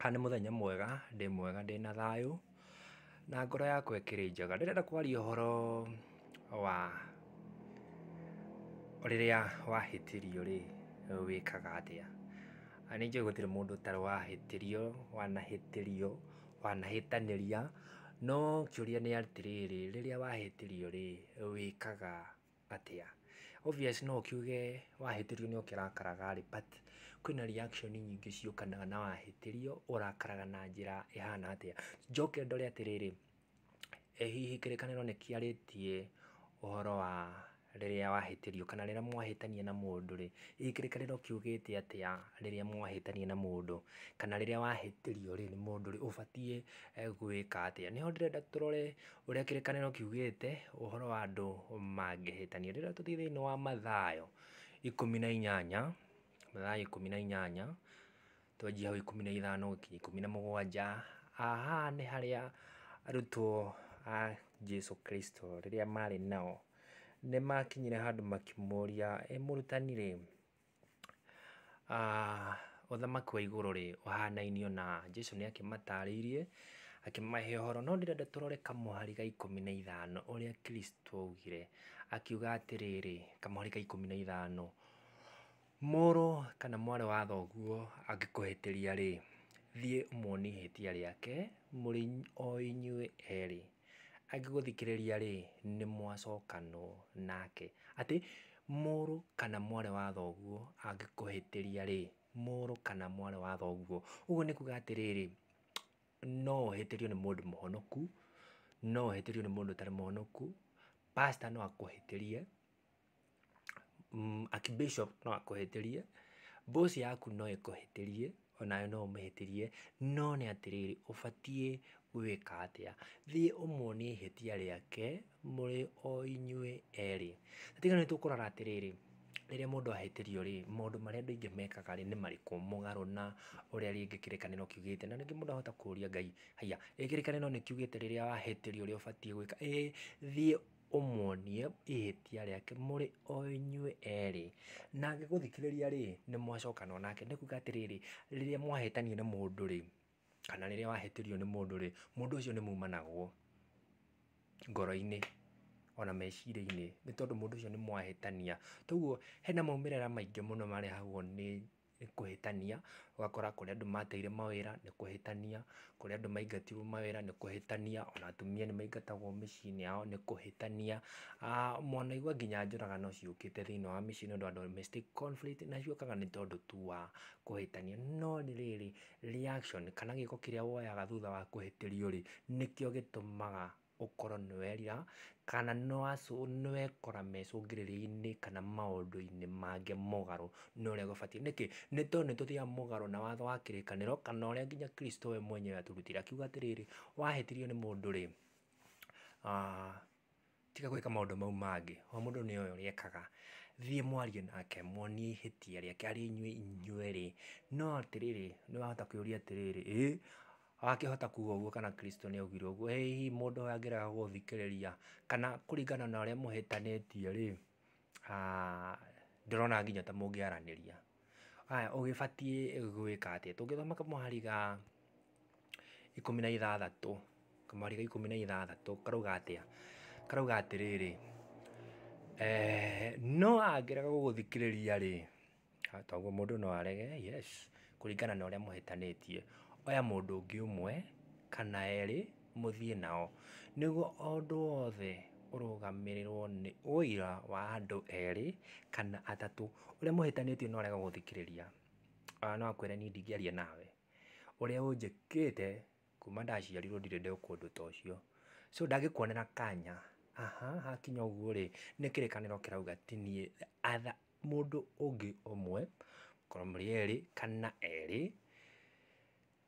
Haha nĩ mũthenya mwega, ndĩ mwega ndĩ na thayũ, na ngoro yakwa ĩkĩrĩ njega. Ndĩrenda kwaria ũhoro wa rĩrĩa wahĩtĩrio rĩ, wĩkaga atĩa. Na nĩ njũĩ gũtirĩ mũndũ ũtarĩ wahĩtĩrio, wanahĩtĩrio, wanahĩtanĩria, no kĩũria nĩ atĩrĩrĩ, rĩrĩa wahĩtĩrio rĩ, wĩkaga. atĩa. Obvious no ũkiuge wahĩtĩrio nĩ ũkĩrakaraga rĩ, but kwĩna reaction nyingĩ ciũkanaga na wahĩtĩrio, ũrakaraga na njĩra ĩhana atĩa. Njoke ndore atĩrĩrĩ, ĩ hihi kĩrĩkanĩro nĩ kĩarĩtie ũhoro wa rĩrĩa wahĩtĩrio kana rĩrĩa mwahĩtania na mũndũ rĩ, hihi kĩrĩkanĩro kiugĩte atĩa rĩrĩa mwahĩtania na mũndũ, kana rĩrĩa wahĩtĩrio rĩ, nĩ mũndũ rĩ, ũbatiĩ gwĩka atĩa. Nĩho ndĩrenda tũrore Ũrĩa kĩrĩkanĩro kiugĩte ũhoro wa andũ mangĩhĩtania, rĩrĩa tũthiĩ thĩinĩ wa Mathayo ikũmi na inyanya, Mathayo ikũmi na inyanya, twanjie hau ikũmi na ithano gũkinya ikũmi na mũgwanja, haha nĩ harĩa arutwo a Jesũ Kristũ rĩrĩa marĩ nao, nĩ makinyire handũ makĩmũria, "Ĩ mũrutani-rĩ" Ũthamaki wa igũrũ rĩ, ũhanainio na Jesũ nĩ akĩmatarĩirie, akĩmahe ũhoro, no ndĩrenda tũrore kamũhari ga ikũmi na ithano ũrĩa Kristũ augire, akiuga atĩrĩrĩ, kamũhari ga ikũmi na ithano, mũrũ kana mwarĩ wa thoguo angĩkũhĩtĩria rĩ, thiĩ ũmuonie ihĩtia rĩake mũrĩ o inyuĩ erĩ. Angĩgũthikĩrĩria-rĩ, nĩ mwacokanwo nake. Atĩ, mũrũ kana mwarĩ wa thoguo angĩkũhĩtĩria-rĩ, mũrũ kana mwarĩ wa thoguo. Ũguo nĩ kuga atĩrĩrĩ, no ũhĩtĩrio nĩ mũndũ mũhonoku, no ũhĩtĩrio nĩ mũndũ ũtarĩ mũhonoku, pastor no akũhĩtĩrie. Archbishop no akũhĩtĩrie, boss yaku no ĩkũhĩtĩrie, onawe no ũmĩhĩtĩrie, no nĩ atĩrĩrĩ, ũbatiĩ gwĩka atĩa? Thiĩ ũmuonie ihĩtia rĩake mũrĩ o inyuĩ erĩ. Tiga nĩ tũkũrora atĩrĩrĩ, rĩrĩa mũndũ ahĩtĩrio rĩ, maũndũ marĩa andũ aingĩ mekaga rĩ, nĩ marĩkũ mũgarũ na ũrĩa rĩngĩ kĩrĩkanĩro kiugĩte? Na rĩngĩ mũndũ ahota kũria Ngai, haiya, ĩ kĩrĩkanĩro nĩ kiugĩte rĩrĩa wahĩtĩrio ũrĩa ũbatiĩ gwĩka? Ĩ thiĩ ũmuonie ihĩtia rĩake mũrĩ o inyuĩ erĩ, na agĩgũthikĩrĩria rĩ, nĩ mwacokana o nake, nĩ kuuga atĩrĩrĩ, rĩrĩa mwahĩtania na mũndũ rĩ, kana rĩrĩa wahĩtĩrio nĩ mũndũ rĩ, mũndũ ũcio nĩ mumanagwo ngoro-inĩ ona meciria-inĩ, nĩ tondũ mũndũ ũcio nĩ mwahĩtania, toguo hena maumĩrĩra maingĩ mũno marehagwo nĩ nĩ kũhĩtania, ũgakora kũrĩa andũ mateire mawĩra nĩ kũhĩtania, kũrĩa andũ maingatirwo mawĩra nĩ kũhĩtania, ona atumia nĩ maingatagwo mĩciĩ-inĩ yao nĩ kũhĩtania, mwanaigua nginya njũragano ciũkĩte thĩiniĩ wa mĩciĩ nĩ ũndũ wa domestic conflict na ciũkaga nĩ tondũ tu wa kũhĩtania. No rĩrĩ, reaction kana gĩko kĩrĩa woyaga thutha wa kũhĩtĩrio rĩ, nĩkĩo gĩtũmaga ũkorwo nĩ werira, kana nĩ wekora mecũngĩrĩria-inĩ kana maũndũ-inĩ mangĩ mũgarũ na ũrĩa gũbatiĩ. Nĩkĩ? Nĩ tondũ nĩ tũthiaga mũgarũ na watho wa kĩrĩkanĩro kana ũrĩa nginya Kristo we mwenyewe atũrutire akiuga atĩrĩrĩ, wahĩtĩrio nĩ mũndũ rĩ, tiga gwĩka maũndũ mau mangĩ. O mũndũ nĩ oĩ ũrĩa ekaga. Thiĩ mwarie nake, muonie ihĩtia rĩake harĩ inyuĩ inywerĩ. No atĩrĩrĩ, nĩ wahota kwĩyũria atĩrĩrĩ, ĩ, Akĩhota kuga ũguo kana Kristo nĩ augire ũguo, ĩ hihi mũndũ ũyũ angĩrega gũthikĩrĩria kana kũringana na ũrĩa mũhĩtanĩtie rĩ, ndĩrona nginya ta mũngĩaranĩria. Haya ũgĩbatiĩ gwĩka atĩa? Tũngĩthoma kamũhari ga ikũmi na ithathatũ, kamũhari ga ikũmi na ithathatũ karauga atĩa? Karauga atĩrĩrĩ, no angĩrega gũgũthikĩrĩria rĩ... Ha, toguo mũndũ no arege, yes, kũringana na ũrĩa mũhĩtanĩtie. Oya mũndũ ũngĩ ũmwe, kana erĩ, mũthiĩ nao. Nĩguo o ũndũ wothe ũrũgamĩrĩrwo nĩ ũira wa andũ erĩ, kana atatũ. Ũrĩa mũhĩtanĩtie no arega gũthikĩrĩria. Ona no akwĩre niĩ ndingĩaria nawe. Ũrĩa ũnjĩkĩte, kuma ndaciarirwo ndirĩ ndekwo ũndũ ta ũcio. So ndangĩkuonera kanya. Aha, hakinya ũguo-rĩ, nĩ kĩrĩkanĩro kĩrauga ti niĩ mũndũ ũngĩ ũmwe, mũkorwo mũrĩ erĩ kana erĩ,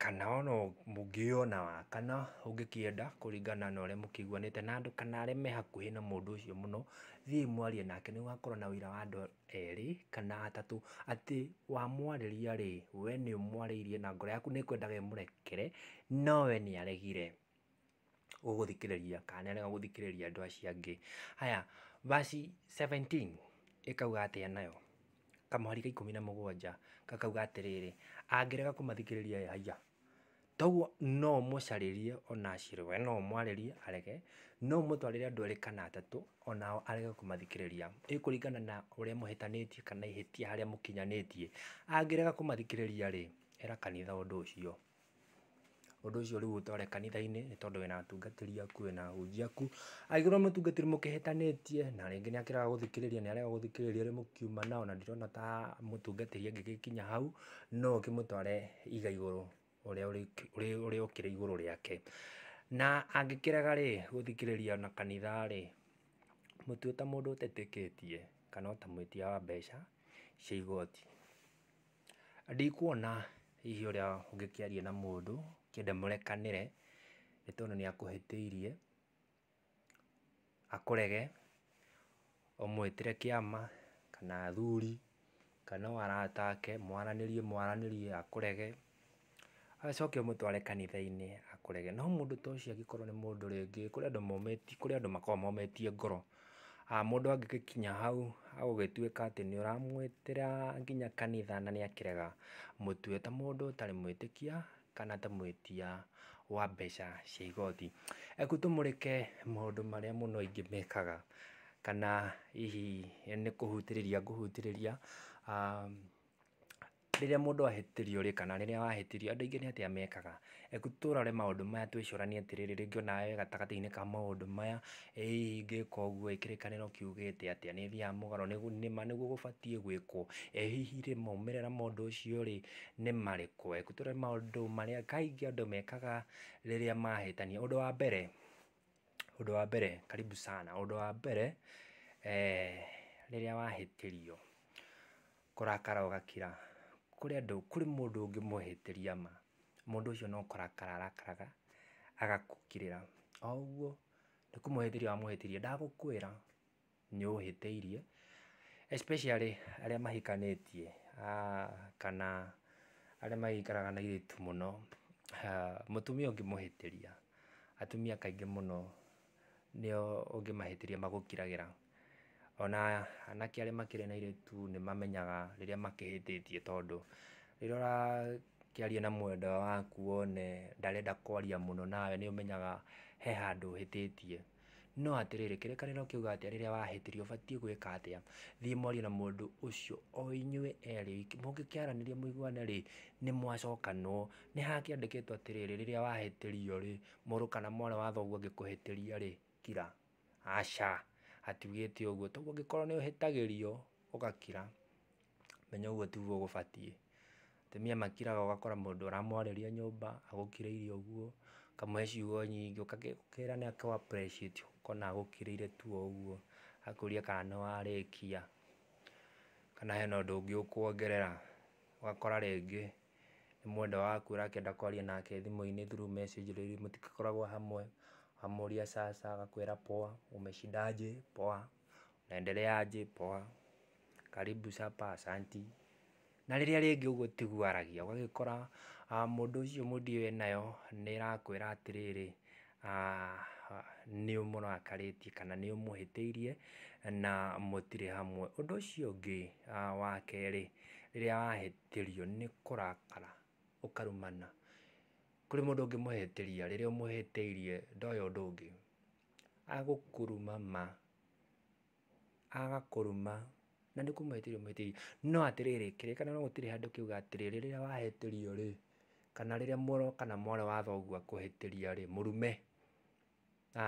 kana ona mũngĩgĩa ona wa kana ũngĩkĩenda kũringana na ũrĩa mũkĩiguanĩte na andũ kana arĩa me hakuhĩ na mũndũ ũcio mũno, thiĩi mwarie nake nĩ gũgakorwo na ũira wa andũ erĩ kana atatũ atĩ wamwarĩria rĩ, we nĩ ũmwarĩirie na ngoro yaku nĩ ĩkwendaga ĩmũrekere no we nĩ aregire. ũgũthikĩrĩria kana nĩ arega gũthikĩrĩria andũ acio angĩ. Haya verse seventeen ĩkauga atĩa nayo? Kamũhari ka ikũmi na mũgwanja gakauga atĩrĩrĩ, angĩrega kũmathikĩrĩria ĩ haiya, toguo no ũmũcarĩrie ona aciĩrĩ, we no ũmwarĩrie arege, no ũmũtwarĩre andũ erĩ kana atatũ onao arege kũmathikĩrĩria. Ĩ kũringana na ũrĩa mũhĩtanĩtie kana ihĩtia harĩa mũkinyanĩtie, angĩrega kũmathikĩrĩria rĩ, ĩra kanitha ũndũ ũcio. Ũndũ ũcio rĩu ũtware kanitha-inĩ nĩ tondũ wĩna atungatĩri aku, wĩna ahunjia aku. Angĩkorwo nĩ mũtungatĩri mũkĩhĩtanĩtie na rĩngĩ nĩ akĩrega gũthikĩrĩria nĩ arega gũthikĩrĩria ũrĩa mũkiuma nao na ndirona ta mũtungatĩri angĩgĩkinya hau, no ũkĩmũtware iga igũrũ ũrĩa ũkĩrĩ igũrũ rĩake. Na angĩkĩrega rĩ, gũthikĩrĩria na kanitha rĩ, mũtue ta mũndũ ũtetĩkĩtie kana ũtamwĩtia wa mbeca cia igoti. Ndikuona hihi ũrĩa ũngĩkĩaria na mũndũ ũkĩenda mũrekanĩre nĩ tondũ nĩ akũhĩtĩirie, akũrege, ũmũĩtĩre kĩama kana athuri kana o arata ake mwaranĩrie mwaranĩrie akũrege, Acoke ũmũtware kanitha-inĩ akũrege. No mũndũ ta ũcio angĩkorwo nĩ mũndũ rĩngĩ, kũrĩ andũ momĩtie, kũrĩ andũ makoragwo momĩtie ngoro. Mũndũ angĩgĩkinya hau agũgĩtuĩka atĩ nĩ ũramwĩtĩra nginya kanitha na nĩ akĩrega, mũtue ta mũndũ ũtarĩ mwĩtĩkia kana ta mwĩtia wa mbeca cia igoti. Reke tũmũreke maũndũ marĩa mũno aingĩ mekaga kana hihi nĩ kũhutĩrĩria ngũhutĩrĩria. Rĩrĩa mũndũ ahĩtĩrio rĩ, kana rĩrĩa wahĩtĩrio, andũ aingĩ nĩ atĩa mekaga? Reke tũrore maũndũ maya twĩcũranie atĩrĩrĩ, rĩngĩ ona we wĩ gatagatĩ-inĩ ka maũndũ maya, ĩ hihi ingĩka ũguo ĩ, kĩrĩkanĩro kiugĩte atĩa? Nĩ thiaga mũgarũ nĩ nĩ ma nĩguo gũbatiĩ gwĩkwo? Ĩ hihi rĩ, maumĩrĩra ma ũndũ ũcio rĩ, nĩ marĩkũ? Reke tũrore maũndũ marĩa kaingĩ andũ mekaga rĩrĩa mahĩtania. Ũndũ wa mbere, Ũndũ wa mbere, karibu sana, ũndũ wa mbere rĩrĩa wahĩtĩrio kũrakara ũgakira, kũrĩ andũ, kũrĩ mũndũ ũngĩmũhĩtĩria ma, mũndũ ũcio no kũrakara arakaraga agagũkĩrĩra, o ũguo nĩ kũmũhĩtĩria wamũhĩtĩirie ndagũkwĩra. nĩ ũhĩtĩirie especially arĩa mahikanĩtie kana arĩa magĩikaraga na airĩtu mũno. Mũtumia ũngĩmũhĩtĩria, atumia kaingĩ mũno nĩo ũngĩmahĩtĩria magũkiragĩra. Ona anake arĩa makĩrĩ na airĩtu nĩ mamenyaga rĩrĩa makĩhĩtĩtie tondũ rĩrĩa ũrakĩaria na mwendwa waku wone ndarenda kwaria mũno nawe nĩ ũmenyaga he handũ ũhĩtĩtie. No atĩrĩrĩ, kĩrĩkanĩro kĩuga atĩa rĩrĩa wahĩtĩrio? Ũbatiĩ gwĩka atĩa? Thiĩ mwarie na mũndũ ũcio o inyuĩ erĩ oiki. Mũngĩkĩaranĩria mũiguane-rĩ, nĩ mwacokanwo. Nĩ hakĩandĩkĩtwo atĩrĩrĩ, rĩrĩa wahĩtĩrio-rĩ, mũrũ kana mwarĩ wa thoguo angĩkũhĩtĩria-rĩ, kira. Aca, hatiugĩte ũguo. Toguo ũngĩkorwo nĩ ũhĩtagĩrio, ũgakira. menya ũguo tiguo gũbatiĩ. Atumia makiraga ũgakora mũndũ ũramwarĩria nyũmba agũkirĩire ũguo, ũkamũhe ciugo nyingĩ, ũkĩra nĩ akũ appreciate ũkona agũkĩrĩire tu o ũguo, agakũria kana nĩ warĩkia, kana hena ũndũ ũngĩ ũkuongerera. Ũgakora rĩngĩ nĩ mwendwa waku ũrakĩenda kwaria nake thimũ-inĩ through message rĩu mũtikoragwo hamwe, wamũria aca aca agakwĩra poa, umeshindaje, poa. Unaendeleaje? Poa. Karibu supper, asanti. Na rĩrĩa rĩngĩ ũguo tiguo aragia, ũgagĩkora mũndũ ũcio mood ĩyo enayo nĩ ĩrakwĩra atĩrĩrĩ, nĩ ũmũrakarĩtie kana nĩ ũmũhĩtĩirie na mũtirĩ hamwe. Ũndũ ũcio ũngĩ wa kerĩ, rĩrĩa wahĩtĩrio nĩ kũrakara ũkarumana. Kũrĩ mũndũ ũngĩmũhĩtĩria, rĩrĩa ũmũhĩtĩirie ndoĩ ũndũ ũngĩ, agũkũruma ma, agakũruma na nĩ kũmũhĩtĩria ũmũhĩtĩirie. No atĩrĩrĩ, kĩrĩkanĩro gũtirĩ handũ kĩuga atĩrĩ, rĩrĩa wahĩtĩrio rĩ, kana rĩrĩa mũrũ kana mwarĩ wa thoguo akũhĩtĩria rĩ, mũrume.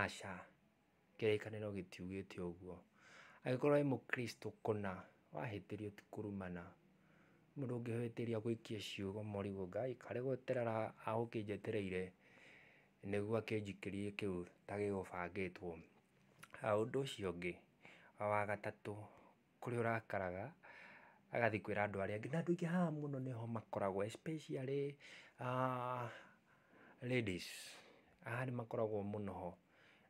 Aca, kĩrĩkanĩro gĩtiugĩte ũguo. Angĩkorwo wĩ Mũkristo kũna, wahĩtĩrio ti kũrumana. Mũndũ ũngĩhĩtĩria agũikie ciugo marigũ, Ngai karĩ gweterera agũkĩnjetereire. nĩguo akĩnjikĩrie kĩu ta gĩgũbangĩtwo. Ũndũ ũcio ũngĩ, wa gatatũ, kũrĩa ũrakaraga agathiĩ kwĩra andũ arĩa angĩ, na andũ aingĩ haha mũno nĩho makoragwo especially ladies, haha nĩ makoragwo mũno ho,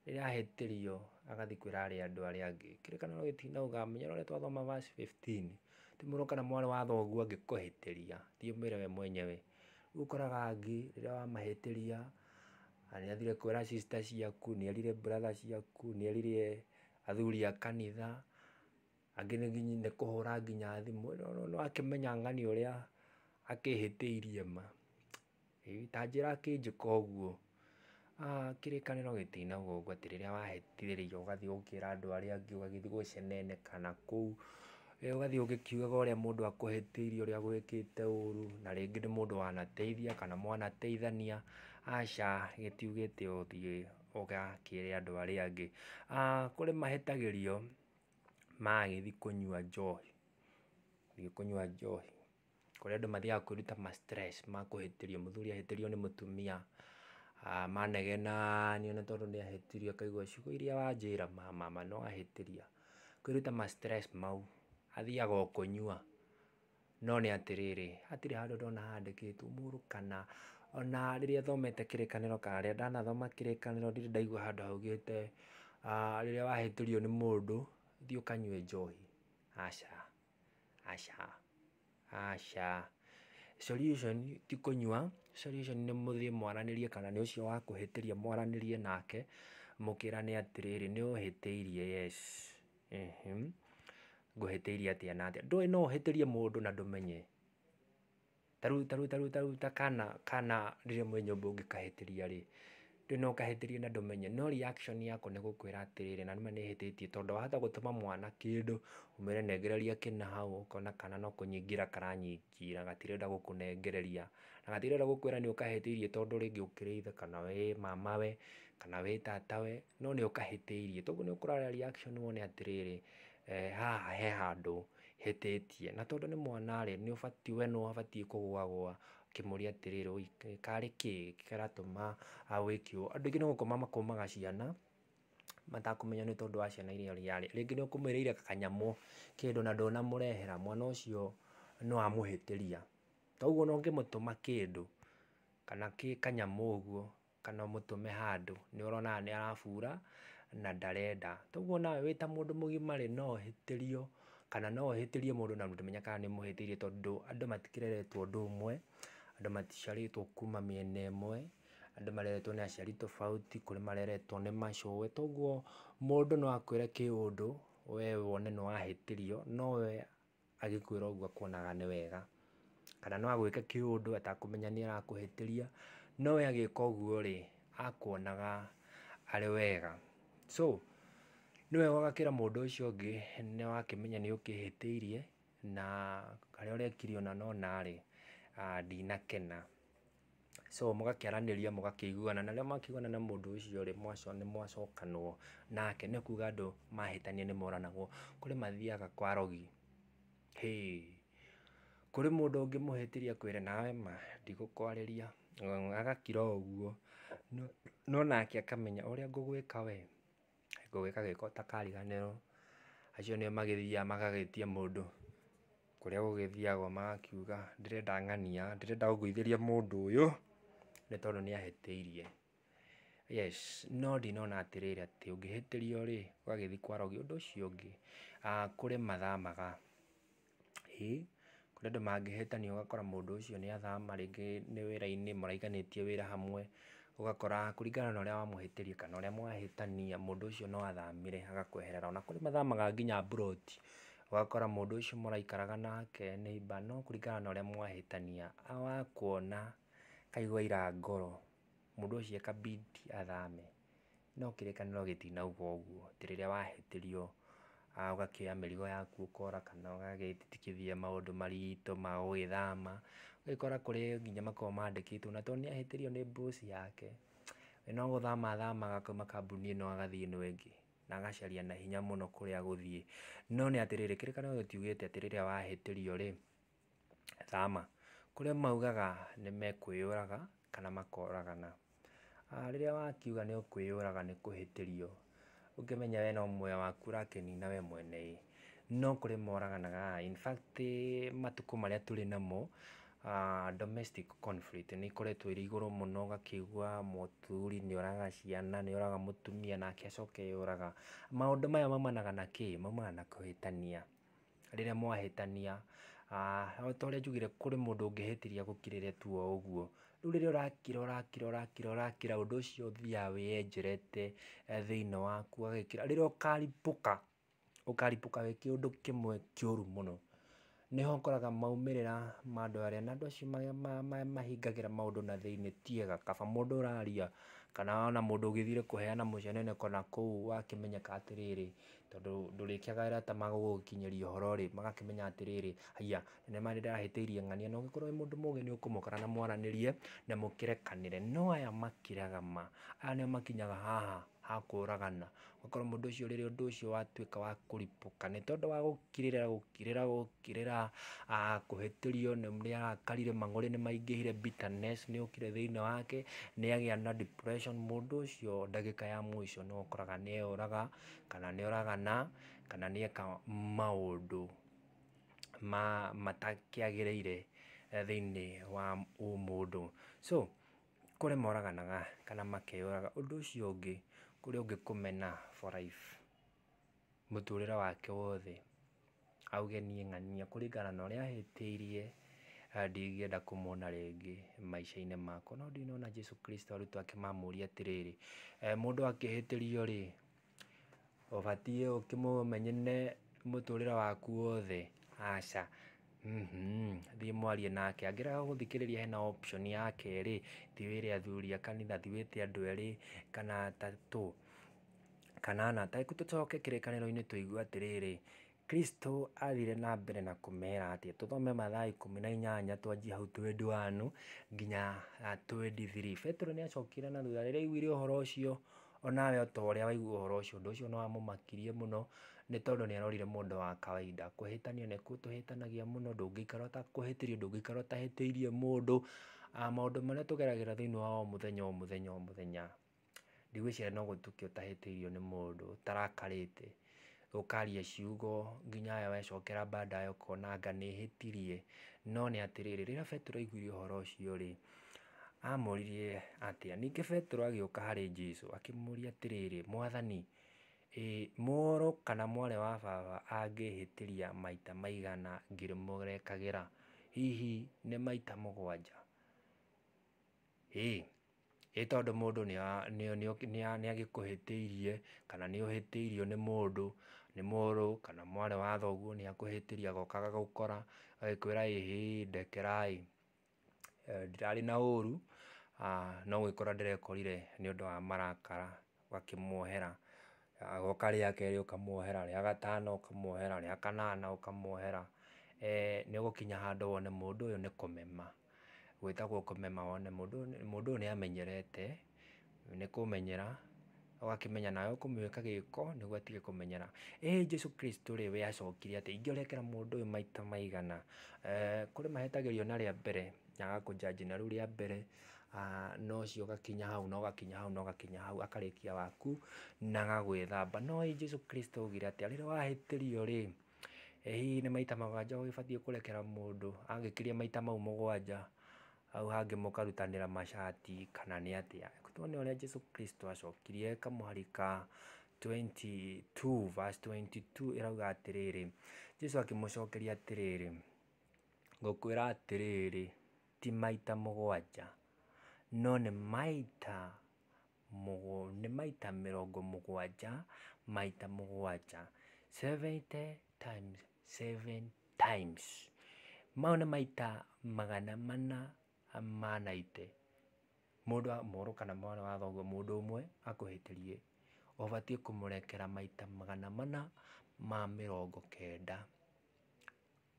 rĩrĩa ahĩtĩrio agathiĩ kwĩra andũ arĩa angĩ, kĩrĩkanĩro gĩtinauga menya ũrĩa twathoma verse fifteen, ti mũrũ kana mwarĩ wa thoguo angĩkũhĩtĩria thiĩ ũmwĩre we mwenyewe Rĩu ũkoraga angĩ rĩrĩa wamahĩtĩria, nĩ athire kwĩra sister ciaku, nĩ erire brother ciaku, nĩ erire athuri a kanitha, angĩ nĩ kũhũra nginya thimũ, nĩ wakĩmenya ng'ani ũrĩa akĩhĩtĩirie ma. Ta njĩra akĩnjĩka ũguo. Kĩrĩkanĩro gĩtinagwo ũguo atĩ rĩrĩa wahĩtithĩrio ũgathiĩ ũgakĩra andũ arĩa angĩ ũgagĩthiĩ gũceneneka na kũu, ũgathiĩ ũgĩkiugaga ũrĩa mũndũ akũhĩtĩirie ũrĩa agwĩkĩte ũru, na rĩngĩ nĩ mũndũ wanateithia kana mwanateithania, aca gĩtiugĩte ũthiĩ ũgakĩre andũ arĩa angĩ. Kũrĩ mahĩtagĩrio magĩthiĩ kũnyua njohi, gũthiĩ kũnyua njohi. kũrĩa andũ mathiaga kwĩruta ma stress ma kũhĩtĩrio, mũthuri ahĩtĩrio nĩ mũtumia, manegena nĩ one tondũ nĩ ahĩtĩrio akaigua ciugo iria wanjĩra mama ma no ahĩtĩria, kwĩruta ma stress mau, athiaga o kũnyua, no nĩ atĩrĩrĩ, hatirĩ handũ ndona handĩkĩtwo mũndũ kana ona rĩrĩa thomete kĩrĩkanĩro kana rĩrĩa ndanathoma kĩrĩkanĩro ndirĩ ndaigua handũ haugĩte rĩrĩa wahĩtĩrio nĩ mũndũ thiĩ ũkanyue njohi, aca. Aca, aca, solution ti kũnyua, solution nĩ mũthiĩ mwaranĩrie kana nĩ ũcio wakũhĩtĩria mwaranĩrie nake, mũkĩrane atĩrĩrĩ nĩ ũhĩtĩirie yes, ngũhĩtĩirie atĩa na atĩa, ndũĩ no ũhĩtĩrie mũndũ na ndũmenye. Ta rĩu ta rĩu ta rĩu ta rĩu ta kana kana rĩrĩa mwĩ nyũmba ũngĩkahĩtĩria rĩ, ndũĩ no ũkahĩtĩrie na ndũmenye, no reaction yako nĩ gũkwĩra atĩrĩrĩ na nĩma nĩhĩtĩtie tondũ wahota gũtũma mwana kĩndũ, ũmwĩre nengereria kĩna hau, ũkona kana no kũnyingĩra karanyingĩra gatirenda gũkũnengereria, na gatirenda gũkwĩra nĩũkahĩtĩirie tondũ rĩngĩ ũkĩrĩ ithe kana wĩ mamawe, kana wĩ tatawe, no nĩũkahĩtĩirie, toguo nĩũkũrora reaction wone atĩrĩrĩ, haha he handũ hĩtĩtie. Na tondũ nĩ mwana rĩ, nĩ ũbatiĩ we nĩwe ũbatiĩ kũgũagũa ũkĩmũria atĩrĩrĩ, ũi karĩ kĩ kĩratũma wĩke ũũ? Andũ aingĩ nĩ gũkoma makomaga ciana matakũmenya nĩ tondũ wa ciana iria ũrarĩ. Rĩngĩ nĩ ũkũmũĩrĩire kanyamũ kĩndũ na ndũnamũrehera, mwana ũcio nĩ wamũhĩtĩria. Ta ũguo ona ũngĩmũtũma kĩndũ kana kanyamũ ũguo. kana ũmũtũme handũ nĩ ũrona haha nĩ arabura na ndarenda. Toguo nawe wĩ ta mũndũ mũgima rĩ no ũhĩtĩrio kana no ũhĩtĩrie mũndũ na ndũmenye kana nĩ ũmũhĩtĩirie tondũ andũ matikĩreretwo ũndũ ũmwe, andũ maticiarĩtwo kuma mĩena ĩmwe, andũ mareretwo nĩ aciari tofauti, kũrĩ mareretwo nĩ macũĩ. Toguo mũndũ no akwĩre kĩũndũ we wone nĩ wahĩtĩrio no we... agĩkwĩra ũguo akuonaga nĩ wega, kana no agwĩke kĩũndũ atakũmenya nĩ arakũhĩtĩria, no we agĩka ũguo rĩ, akuonaga arĩ wega. So, nĩ wega ũgakĩra mũndũ ũcio ũngĩ nĩ wakĩmenya nĩ ũkĩhĩtĩirie, na harĩa ũrekire ona nona rĩ, ndinakena. so mũgakĩaranĩria mũgakĩiguana na rĩrĩa mwakĩiguana na mũndũ ũcio rĩ, nĩ mwacokanwo nake, nĩ kuga andũ mahĩtania nĩ moranagwo, kũrĩ mathiaga kwa arogi, kũrĩ mũndũ ũngĩmũhĩtĩria akwĩre nawe ma ndigũkwarĩria, agakira o ũguo, no nake akamenya ũrĩa ngũgwĩka we, gũgĩka gĩko ta kariganĩrwo, acio nĩo magĩthiaga magagĩtia mũndũ kũrĩa gũgĩthiagwo magakiuga ndĩrenda ng'ania, ndĩrenda ũngũithĩrie mũndũ ũyũ nĩ tondũ nĩ ahĩtĩirie. Yes, no ndinona atĩrĩrĩ atĩ ũngĩhĩtĩrio rĩ ũgagĩthiĩ kwarogio ũndũ ũcio ũngĩ, kũrĩ mathamaga Ĩĩ, kũrĩ andũ mangĩhĩtania ũgakora mũndũ ũcio nĩ athama rĩngĩ nĩ wĩra-inĩ maraiganĩtie wĩra hamwe, ũgakora kũringana na ũrĩa wamũhĩtĩria kana ũrĩa mwahĩtania mũndũ ũcio no athamire agakweherera. Ona kũrĩ mathamaga nginya mburoti, ũgakora mũndũ ũcio mũraikaraga nake neighbour no kũringana na ũrĩa mwahĩtania wakuona akaigua aira ngoro, mũndũ ũcio eka bid athame. No kĩrĩkanĩro gĩtinauga ũguo, atĩ rĩrĩa wahĩtĩrio ũgakĩoya mĩrigo yaku ũkora kana ũgagĩtigithia maũndũ maritũ ma gũgĩthama, ũgagĩkora kũrĩ nginya makoragwo mandĩkĩtwo na tondũ nĩ ahĩtĩrio nĩ boss yake, we no gũthama athamaga akauma kambuni ĩno agathiĩ ĩno ĩngĩ, na agacaria na hinya mũno kũrĩa agũthiĩ. No nĩ atĩrĩrĩ, kĩrĩkanĩro gĩtiugĩte atĩ rĩrĩa wahĩtĩrio rĩ... Thama, kũrĩa maugaga nĩ mekwĩyũraga kana makoragana. Rĩrĩa wakiuga nĩ ũkwĩyũraga nĩ kũhĩtĩrio, ũngĩmenya we no muoyo waku ũrakenina we mwene ĩ, no kũrĩ moraganaga. In fact matukũ marĩa tũrĩ namo, domestic conflict nĩ ikoretwo irĩ igũrũ mũno, ũgakĩigua mũthuri nĩ oraga ciana, nĩ oraga mũtumia nake acoke eyũraga. Maũndũ maya maumanaga na kĩ? Maumanaga na kũhĩtania. rĩrĩa mwahĩtania, o ta ũrĩa njugire kũrĩ mũndũ ũngĩhĩtĩria gũkirĩria tu o ũguo, rĩu rĩrĩa ũrakira ũrakira ũrakira ũrakira ũndũ ũcio ũthiaga wĩyenjerete thĩinĩ waku ũgagĩkĩra, rĩrĩa ũkaripũka ũkaripũka wĩ kĩũndũ kĩmwe kĩũru mũno, nĩho ũkoraga maumĩrĩra ma andũ arĩa na andũ acio mahingagĩra maũndũ na thĩinĩ ti ega, kaba mũndũ ũraria kana ona mũndũ ũgĩthire kũheana mũcene nakũu wakĩmenyeka atĩrĩrĩ tondũ ndũrĩkĩaga arata magũgũkinyĩria ũhoro-rĩ, magakĩmenya atĩrĩrĩ, haiya nĩ ma nĩndĩrahĩtĩirie ng'ania, na ũngĩkorwo wĩ mũndũ mũgĩ nĩũkũmũkora na mwaranĩrie na mũkĩrekanĩre, no aya makĩraga ma, aya nĩo makinyaga haha ha kũragana, ũgakora mũndũ ũcio rĩrĩa ũndũ ũcio watuĩka wa kũripũka, nĩ tondũ wa gũkirĩra gũkirĩra gũkirĩra kũhĩtĩrio nĩ nĩarakarire mang'ũrĩ nĩmaingĩhire bitterness nĩyokire thĩiniĩ wake, nĩagĩa na depression mũndũ ũcio ndagĩka ya mũico nĩwe ũkoraga nĩeyũraga, kana nĩ oragana, kana nĩ eka maũndũ matakĩagĩrĩire thĩinĩ wa ũmũndũ. So kũrĩ moraganaga kana makeyũraga. Ũndũ ũcio ũngĩ, kũrĩ ũngĩ kũmena for life, mũtũrĩre wake wothe. aũgenie ng'ania kũringana na ũrĩa ahĩtĩirie, ndingĩenda kũmwona rĩngĩ maica-inĩ makwa. No ndinona Jesu Kristo arutwo ake mamũria atĩrĩrĩ, mũndũ akĩhĩtĩrio rĩ, ũbatiĩ ũkĩmũmenyene mũtũrĩre waku wothe? Aca, thiĩ mwarie nake. Angĩrega gũgũthikĩrĩria hena option ya kerĩ, thiĩ wĩre athuri a kanitha, thiĩ wĩte andũ erĩ kana atatũ. Kanana, tareku tũcoke kĩrĩkanĩro-inĩ tũigue atĩrĩrĩ, Kristo athire na mbere na kũmera atĩa? Tũthome mathaa ikũmi na inyanya twanjie hau 21 nginya 23. Petero nĩ acokire na thutha rĩrĩa aiguire ũhoro ũcio, onawe o ta ũrĩa waigua ũhoro ũcio, ũndũ ũcio nĩ wamũmakirie mũno, nĩ tondũ nĩ arorire mũndũ wa kawaida. Kũhĩtania nĩ gũtũhĩtanagia mũno, ndũngĩikara ũtakũhĩtĩirie, ndũngĩikara ũtahĩtĩirie mũndũ. Maũndũ marĩa tũgeragĩra thĩinĩ wa o mũthenya o mũthenya o mũthenya. ndigwĩciria no gũtukio ũtahĩtĩirio nĩ mũndũ ũtarakarĩte, ũkaria ciugo nginya we wecokera baadaye ũkona anga nĩhĩtirie, no nĩ atĩrĩrĩ, rĩrĩa Petero aiguire ũhoro ũcio rĩ, amũririe atĩa? Ningĩ Petero agĩũka harĩ Jesu akĩmũria atĩrĩrĩ, mwathani, mũrũ kana mwarĩ wa baba angĩhĩtĩria maita maigana ngĩmũrekagĩra? Hihi nĩ maita mũgwanja? Ĩ tondũ mũndũ nĩagĩkũhĩtĩirie kana nĩũhĩtĩirio nĩ mũndũ, nĩ mũrũ kana mwarĩ wa thoguo nĩakũhĩtĩirie agoka agagũkora agagĩkwĩra ĩ hĩ ndekera ĩ, ndirarĩ na ũru no gwĩkora ndĩrekorire nĩ ũndũ wa marakara ũgakĩmuohera, agoka rĩa kerĩ ũkamuohera, rĩa gatano ũkamuohera, rĩa kanana ũkamuohera, nĩũgũkinya handũ wone mũndũ ũyũ nĩ kũmema. gwĩtagwo kũmema one mũndũ mũndũ ũyũ nĩamenyerete, nĩ kũmenyera, ũgakĩmenya nawe ũkũmwĩka gĩko nĩguo atige kũmenyera. Ĩĩ Jesũ Kristũ rĩ we acokire atĩa, ingĩrekera mũndũ ũyũ maita maigana? Kũrĩ mahetagĩrio na rĩa mbere, na agakũnjanji na rĩu rĩa mbere, na ũcio ũgakinya hau na ũgakinya hau na ũgakinya hau, akarĩkia waku na agagwĩthamba. No ĩ Jesũ Kristũ augire atĩa, rĩrĩa wahĩtĩrio rĩ? Ĩ hihi nĩ maita mũgwanja ũgĩbatiĩ kũrekera mũndũ angĩkĩria maita mau mũgwanja hau hangĩ mũkarutanĩra macati kana nĩ atĩa? Reke tuone ũrĩa Jesu Kristo acokirie kamũhari ka twenty two verse twenty two ĩrauga atĩrĩrĩ, Jesu akĩmũcokeria atĩrĩrĩ, ngũkwĩra atĩrĩrĩ, ti maita mũgwanja, no nĩ maita... nĩ maita mĩrongo mũgwanja maita mũgwanja, seventy times seven times. Mau nĩ maita magana mana ma naite, mũndũ a mũrũ kana mwarĩ wa thoguo mũndũ ũmwe akũhĩtĩrie, ũbatiĩ kũmũrekera maita magana mana ma mĩrongo kenda.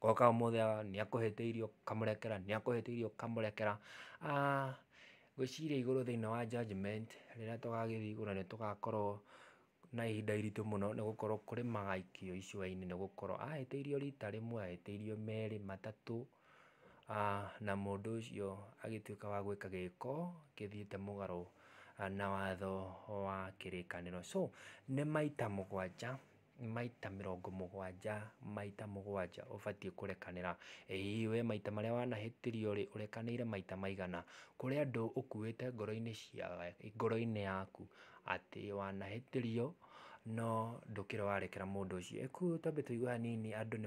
Goka ũmũthĩ aga nĩakũhete irio ũkamũrekera, nĩakũhete irio ũkamũrekera, aah gwĩciria igũrũ thĩinĩ wa judgement rĩrĩa tũgagĩthiĩ igũrũ nĩtũgakorwo na ihinda iritũ mũno nĩgũkorwo kũrĩ magaikio icua-inĩ nĩgũkorwo ahĩtĩirio rita rĩmwe, ahĩtĩirio merĩ, matatũ, aah na mũndũ ũcio agĩtuĩka wa gwĩka gĩko gĩthiĩte mũgarũ na watho wa kĩrĩkanĩro. So nĩ maita mũgwanja. maita mĩrongo mũgwanja maita mũgwanja ũbatiĩ kũrekanĩra. Ĩĩ we maita marĩa wanahĩtĩrio rĩ ũrekanĩire maita maigana? Kũrĩ andũ ũkuĩte ngoro-inĩ cia ngoro-inĩ yaku atĩ wanahĩtĩrio no ndũkĩrĩ warekera mũndũ ũcio. Rĩu twambe tũigue hanini andũ nĩ...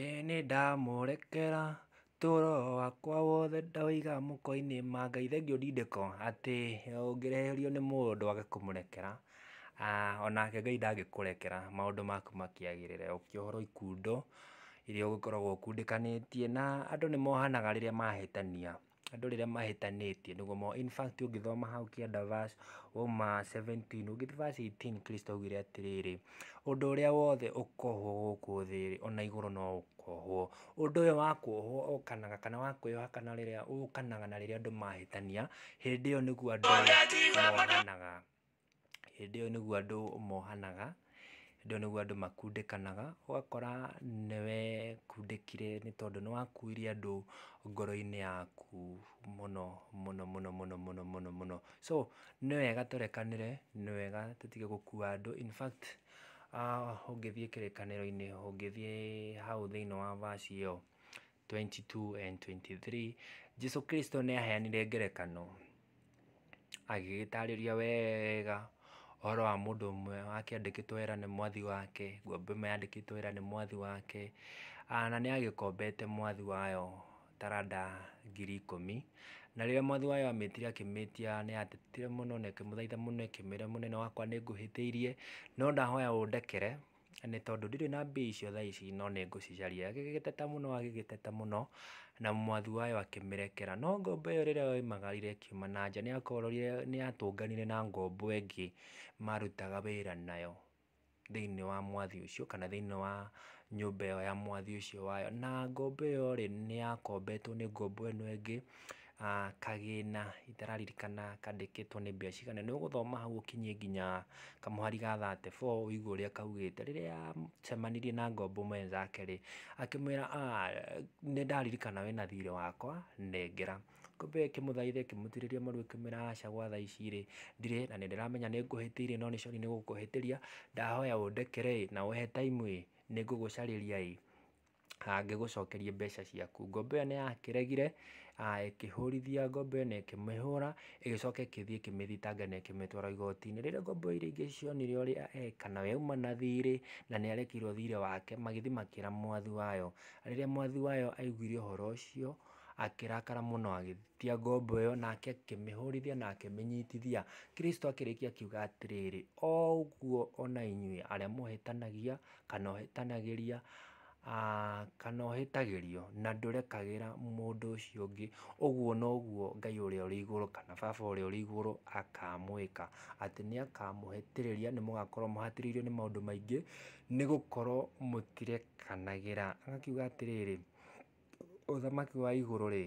Ĩ nĩndamũrekera toro wakwa wothe ndaũiga mũko-inĩ ma Ngai, thengiũ ndindĩko atĩ ũngĩreherio nĩ mũndũ wage kũmũrekera, onake Ngai ndangĩkũrekera maũndũ maku makĩagĩrĩre, ũkĩohorwo ikundo iria ũgĩkoragwo ũkundĩkanĩtie na andũ nĩ mohanaga rĩrĩa mahĩtania. andũ rĩrĩa mahĩtanĩtie nĩguo ma in fact ũngĩthoma hau kĩanda verse uma 17 ũngĩthiĩ verse 18 Kristo augire atĩrĩrĩ ũndũ ũrĩa wothe ũkohwo gũkũ thĩ-rĩ ona igũrũ no ũkohwo ũndũ ũyũ wa kuohwo ũkanaga kana wa kwĩyoha kana rĩrĩa ũkanaga na rĩrĩa andũ mahĩtania hĩndĩ ĩyo nĩguo andũ mohanaga. Hĩndĩ ĩyo nĩguo andũ mohanaga, hĩndĩ ĩyo nĩguo andũ makundĩkanaga, ũgakora nĩ wekundĩkire nĩ tondũ nĩ wakuire andũ ngoro-inĩ yaku mũno mũno mũno mũno mũno mũno mũno. So nĩ wega tũrekanĩre, nĩ wega tũtige gũkua andũ, in fact ũngĩthiĩ kĩrĩkanĩro-inĩ, ũngĩthiĩ hau thĩiniĩ wa verse ĩyo, 22 and 23 Jesu Kristo nĩ aheanire ngerekano agĩgĩtarĩria wega ũhoro wa mũndũ ũmwe wakĩandĩkĩtwo wĩra nĩ mwathi wake ngombo ĩmwe yandĩkĩtwo wĩra nĩ mwathi wake ah, na nĩ agĩkombete mwathi wayo taranda ngiri ikũmi na rĩrĩa mwathi wayo amĩtire akĩmĩtia nĩ atetire mũno na ĩkĩmũthaitha mũno ĩkĩmwĩra mũnene wakwa nĩ ngũhĩtĩirie no ndahoya ũndekere nĩ tondũ ndirĩ na mbia icio thaa ici no nĩ ngũcicaria. Agĩgĩteta mũno agĩgĩteta mũno, na mwathi wayo akĩmĩrekera. No ngombo ĩyo rĩrĩa yoimagarire ĩkiuma na nja, nĩyakorire nĩyatũnganire na ngombo ĩngĩ marutaga wĩra nayo thĩiniĩ wa mwathi ũcio kana thĩiniĩ wa nyũmba ĩyo ya mwathi ũcio wayo. Na ngombo ĩyo-rĩ, nĩyakombetwo nĩ ngombo ĩno ĩngĩ, Kagĩna, itararirikana kandĩkĩtwo nĩ mbia cigana, nĩ ũgũthoma hau ũkinyie nginya kamũhari ga thate bo ũigwe ũrĩa kaugĩte. Rĩrĩa acemanirie na ngombo mwenzake rĩ, akĩmwĩra nĩ ndaririkana wĩna thirĩ wakwa nengera. Ngombo ĩyo ĩkĩmũthaitha ĩkĩmũturĩria maru ĩkĩmwĩra aca gwa thaa ici rĩ, ndirĩ na nĩ ndĩramenya nĩ ngũhĩtĩirie no nĩ sorry nĩ gũkũhĩtĩria, ndahoya ũndekere ĩ na ũhe time ĩ, nĩ ngũgũcarĩria ĩ. angĩgũcokeria mbeca ciaku. Ngombo ĩyo nĩ yakĩregire, ĩkĩhũrithia ngombo ĩyo na ĩkĩmĩhũra, ĩgĩcoka ĩgĩthiĩ ĩkĩmĩthitanga na ĩkĩmĩtwara igoti-inĩ. Rĩrĩa ngombo iria ingĩ cionire ũrĩa eka, nayo yauma na thirĩ, na nĩ yarekeirwo thirĩ wake, magĩthiĩ makĩra mwathi wayo. Rĩrĩa mwathi wayo aiguire ũhoro ũcio, akĩrakara mũno agĩtia ngombo ĩyo, nake akĩmĩhũrithia na akĩmĩnyitithia. Krĩsto akĩrĩkia akiuga atĩrĩrĩ, o ũguo o na inyuĩ arĩa mũhĩtanagia... kana ũhĩtanagĩria kana ũhĩtagĩrio na ndũrekagĩra mũndũ ũcio ũngĩ, ũguo noguo Ngai ũrĩa ũrĩ igũrũ kana Baba ũrĩa ũrĩ igũrũ akamwĩka, atĩ nĩ akamũhĩtĩrĩria, nĩ mũgakorwo mũhatĩrĩirio nĩ maũndũ maingĩ, nĩ gũkorwo mũtirekanagĩra. Agakiuga atĩrĩrĩ, ũthamaki wa igũrũ rĩ,